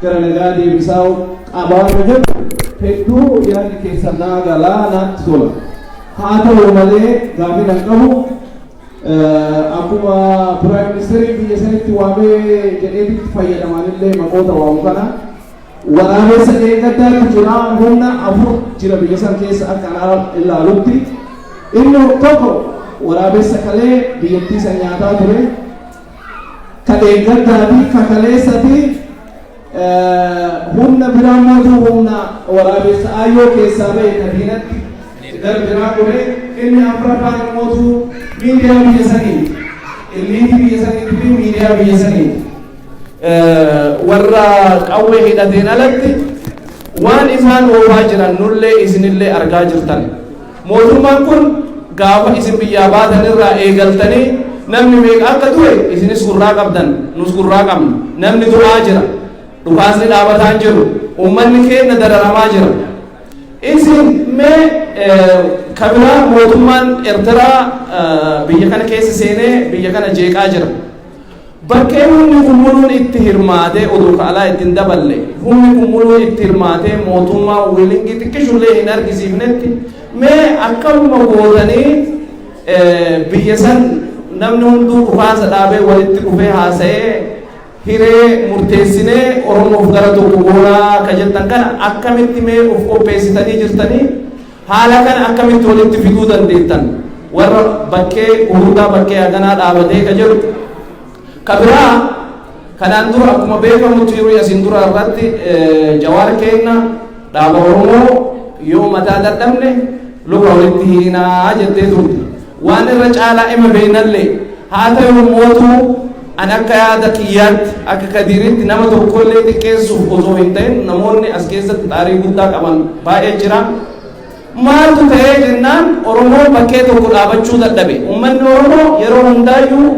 gara nagaa deebisaa qabaanna jedhu hedduu yaadni keessan naa galaa naatti tola. Haa ta'u malee gaaffiin an qabu akkuma piraayim ministeerii biyya sanitti waamee jedheetitti fayyadamanillee maqoota waamu kana waraabessa eeggaddaatti jira humna afur jira biyya san keessa akka anaa ilaalutti inni tokko waraabessa kalee biyyattii san nyaataa ture ka dheengaddaati ka kaleessati humna biraa mootuu humna waraabessa ayyoo keessaa ba'e ka diinatti gara biraa godhe inni afraffaan mootuu miidiyaa biyya sanii illiiti biyya sanii fi miidiyaa biyya sanii warra qawwee hidhateen alatti waan isaan oofaa jiran nullee isinillee argaa jirtan. Mootummaan kun gaafa isin biyyaa baatan irraa eegaltanii namni meeqa akka du'e isinis gurraa qabdan nus gurraa qabna. Namni du'aa jira. Dhukaasni dhaabataa hin jiru. Uummanni keenya dararamaa jira. Isin mee kan biraa mootummaan Ertiraa biyya kana keessa seenee biyya kana jeeqaa jira. Bakkee humni kun muluun itti hirmaatee odoo ka alaa itti hin daballe, humni kun muluun itti hirmaatee mootummaan wiilingii xiqqishullee hin argisiifnetti, mee akkamuma gootanii biyya san namni hunduu dhukaasa dhaabee walitti dhufee haasayee hiree murteessinee Oromoof gara tokko goonaa ka jettan kana akkamitti mee uf qopheessitanii jirtanii? Haala kana akkamitti walitti fiduu dandeettan warra bakkee hurudaa bakkee haganaa dhaabatee ka jedhu ka biraa kanaan dura akkuma beekamu tiiruu yasin dura irratti jawaar keenna dhaaba oromoo yoo mataa dadhabne luka walitti hiinaa jettee turte Waan irra caalaa ima beenalle haa tayu mootu an akka yaada kiyyaatti akka kadiiritti nama tokkollee xiqqeessuuf osoo hin ta'in namoonni as keessatti xaarii guddaa qaban baay'ee jira. Maaltu ta'ee jennaan Oromoo bakkee tokko dhaabachuu dadhabe. Uummanni Oromoo yeroo hundaayyuu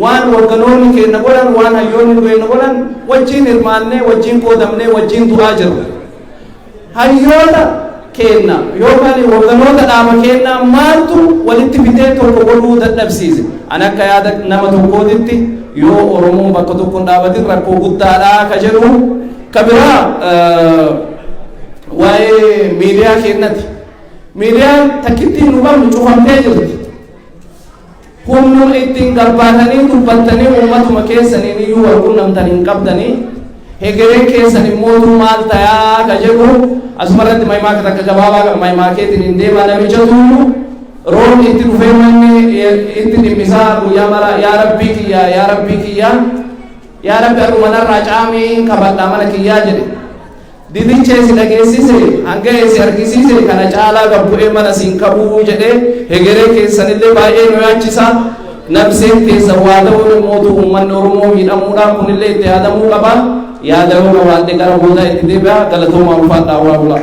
waan hogganoonni keenya godhan waan hayyoonni keenya godhan wajjin hirmaannee wajjin qoodamnee wajjin du'aa jirra. Hayyoota keenna yookaan hogganoota dhaaba keennaa maaltu walitti fidee tokko godhuu dadhabsiise? Ani akka yaada nama tokkootitti yoo Oromoon bakka tokko hin dhaabatin rakkoo guddaadha ka jedhu. Ka biraa waa'ee miidiyaa keennati. Miidiyaan takkittiin nu qabnu cufamtee jirti. Humnu ittin gabbaatanii dubbattanii ummatuma keessaniin iyyuu wal qunnamtan hin qabdanii hegereen keessan immootuu maal tayaa ka jedhu asumarratti mahimaaka takka gabaabaa kan mahimaakeetiin hin deemaa namichatuyyuu roobni itti dhufee manni itti dhimmisaa guyyaa mara yaa rabbii kiyyaa yaa rabbii kiyyaa yaa rabbi adhumanarraa caamii hin kabadhaa mana kiyyaa jedhe Didichee si dhageessise, hanga'e si argisiise, kana caalaa gad bu'ee mana si hin qabu jedhe, hegeree keessan illee baay'ee nu yaachisa. Nabseen keessan waa ta'uun immootu uummanni Oromoo miidhamuudha, kun illee itti yaadamuu qaba. Yaada yoo qabaadhe gara boodaa itti deebi'a. Galatoomaa ulfaadhaa horaa bulaa.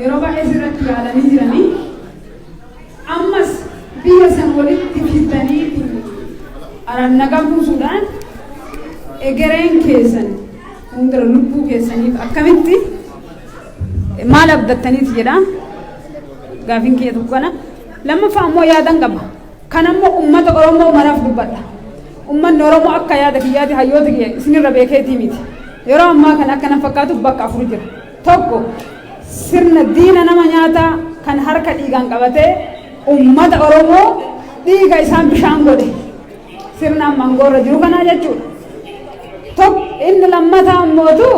Yeroo baay'ee sirratti yaalanii jiranii ammas biyya san walitti fiddaniitu araan nagaa buusuudhaan egereen keessan hundura lubbuu keessaniif akkamitti maal abdattaniiti jedha gaafin kiyya tokko kana lammaffaa ammoo yaadan qaba kan ammoo ummata oromoo maraaf dubbadha ummanni oromoo akka yaada kiyyaati hayyoota kiyya isinirra beekeetii miti yeroo ammaa kan akkana fakkaatuuf bakka afur jira 1, Sirna diina nama nyaataa kan harka dhiigaan qabatee ummata Oromoo dhiiga isaan bishaan godhe sirna amma angoorra jiru kanaa jechuudha. Tokko inni lammataa ammootu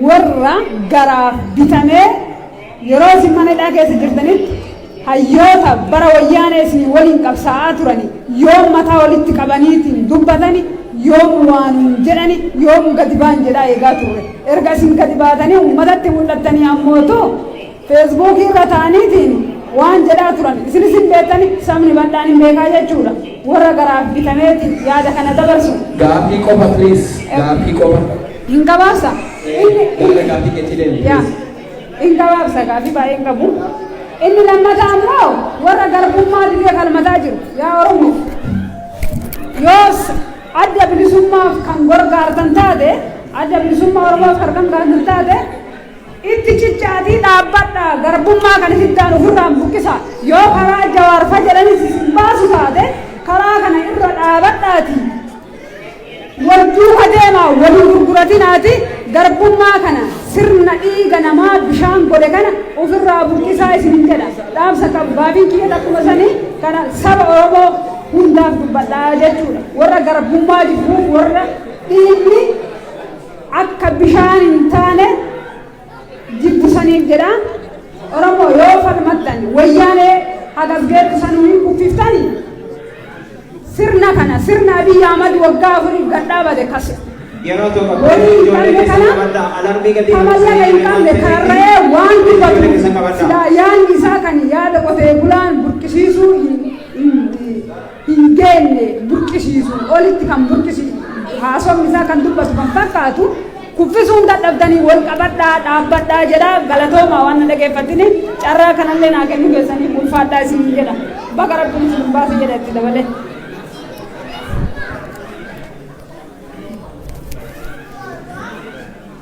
warra garaaf bitamee yeroo isin mana hidhaa keessa jirtanitti Hayyoota bara wayyaanee isinii waliin qabsaa'aa turani yoom mataa walitti qabaniitiin dubbatani yoom waa nuun jedhani yoom gadi baan jedhaa eegaa turre erga isin gadi baatanii ummatatti mul'attanii ammootu feesbuukii irra taa'aniitiin waan jedhaa turan isinis hin beektani sabni bal'aan hin beekaa jechuudha warra garaaf bitameeti yaada kana dabarsu. Gaafii qofa please gaafii qofa. Hin gabaabsa. Gaafii gaafii keetii deemi please. In gabaabsa gaaffii baay'ee hin qabu. Inni lammataa ammoo warra garbummaa didee falmataa jiru yaa Oromoo yoos adda bilisummaaf kan gorgaartan taate adda bilisummaa Oromoof kan gorgaartan taate itti cichaatii dhaabbadha garbummaa kan isiddaan ofirraan buqqisa yoo karaa jawaarfa jedhanis isin baasu taate karaa kana irra dhaabadhaati Wal duuka deemaa wal hin gurguratinaatii garbummaa kana sirna dhiiga namaa bishaan godhe kana ufirraa buqqisaa isinin jedha. Dhaamsa qabu gaafiin kiyyas akkuma sanii kana saba Oromoo hundaaf dubbadha jechuudha. Warra garbummaa jibbuuf warra dhiigni akka bishaan hin taane jiddu saniin jedha oromoo yoo falmattan wayyaanee hagasgeettu sanuu hin kuffiftani sirna kana sirna abiyyi ahmad waggaa afuriif gad dhaabate kas Yeroo tokko horii hin qabne kana kamallaqa hin qabne karra'ee waan dubbatu silaa yaanni isaa kan yaada qotee bulaan burqisiisuu hin- hin- hin geenye burqisiisu, olitti kan burqisiisu, haasofni isaa kan dubbatu kan fakkaatu, kuffisuu hin dadhabdanii wal qabadhaa, dhaabbadhaa jedha. Galatoomaa waan na dhageeffattiniif, carraa kanallee naa kennuu keessaniif ulfaadhaa isiniin jedha. Baga Rabbiin isin hin baase jedha itti dabalee.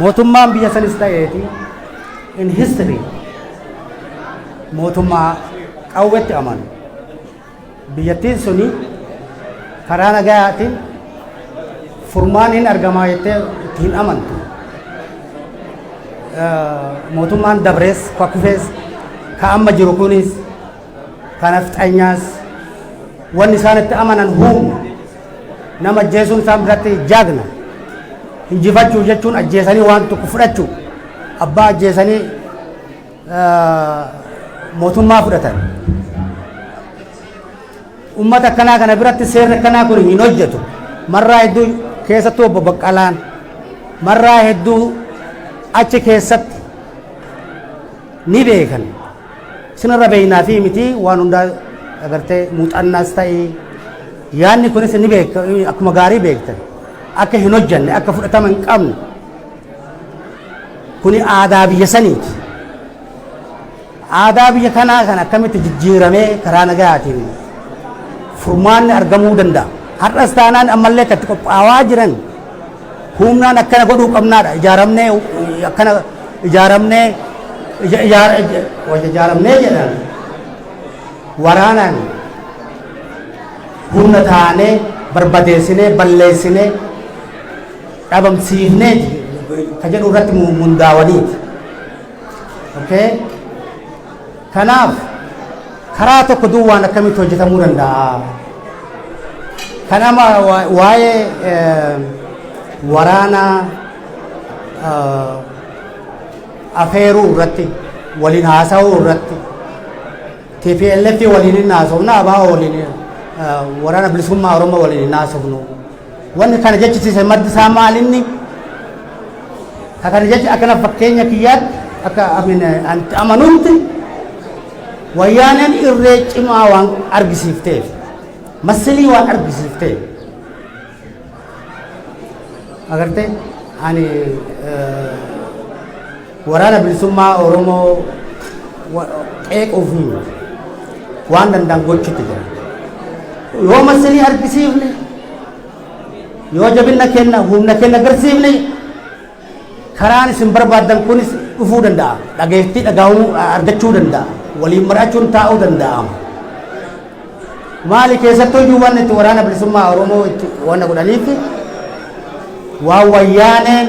Mootummaan biyya sanis ta'eeti in history mootummaa qawwetti amanu. Biyyattiin suni karaa nagayaatiin furmaan hin argamaa jettee itti hin amantu. Eh, Mootummaan dabrees, ka kufees, ka amma jiru kunis ka nafxanyaas wanni isaan itti amanan huumna nama ajjeesuun isaan biratti jaagna injifachuu jechuun ajjeesanii waan tokko fudhachuu abbaa ajjeesanii eh, mootummaa fudhatan ummata akkanaa kana biratti seerri akkanaa kun hin hojjetu marraa hedduu keessattuu obbo Baqqalaan marraa hedduu achi keessatti ni beekan Sinirra beeknaa fi miti waan hundaa agartee muuxannaas ta'e yaadni kunis ni beekta akkuma gaarii beektan akka hin hojjanne akka fudhatama hin qabne kuni aadaa biyya saniiti. Aadaa biyya kanaa kan akkamitti jijjiiramee karaa nagayaatiin furmaanni argamuu danda'a. Har'as taanaan ammallee kan itti qophaa'aa jiran Humnaan akkana godhuu qabnaadha. Ijaaramnee akkana ijaaramnee ija- ijaar- ija- wayya ijaaramnee jedhan waraanaan humna taanee barbadeessinee balleessinee dhabamsiifneeti ka jedhu irratti mu- mundaawaniiti. Okay? Kanaaf, karaa tokko duwwaan akkamitti hojjetamuu danda'a? Kan amma waa'ee waraana afeeruu irratti waliin haasa'uu irratti TPLF waliin hin haasofna, ABO waliin waraana bilisummaa Oromoo waliin hin haasofnu. Wanni kana jechisiise maddi isaa maal inni? Ka kana jecha akkana fakkeenya kiyyaatti akka amin anti amanutti wayyaaneen irree cimaa waan argisiifteef masilii waan argisiifteef agartee ani Waraana Bilisummaa Oromoo qeequuf waan danda'an gochuutti jira. Yoo masinii argisiifne, yoo jabinna kenna, humna kenna agarsiifne, karaan isin barbaaddan kunis dhufuu danda'a. Dhageettii dhagaa'uu argachuu danda'a. Waliin maraachuun taa'uu danda'ama. Maali keessattuu iyyuu waan itti waraana bilisummaa Oromoo itti waan godhaniif waan wayyaaneen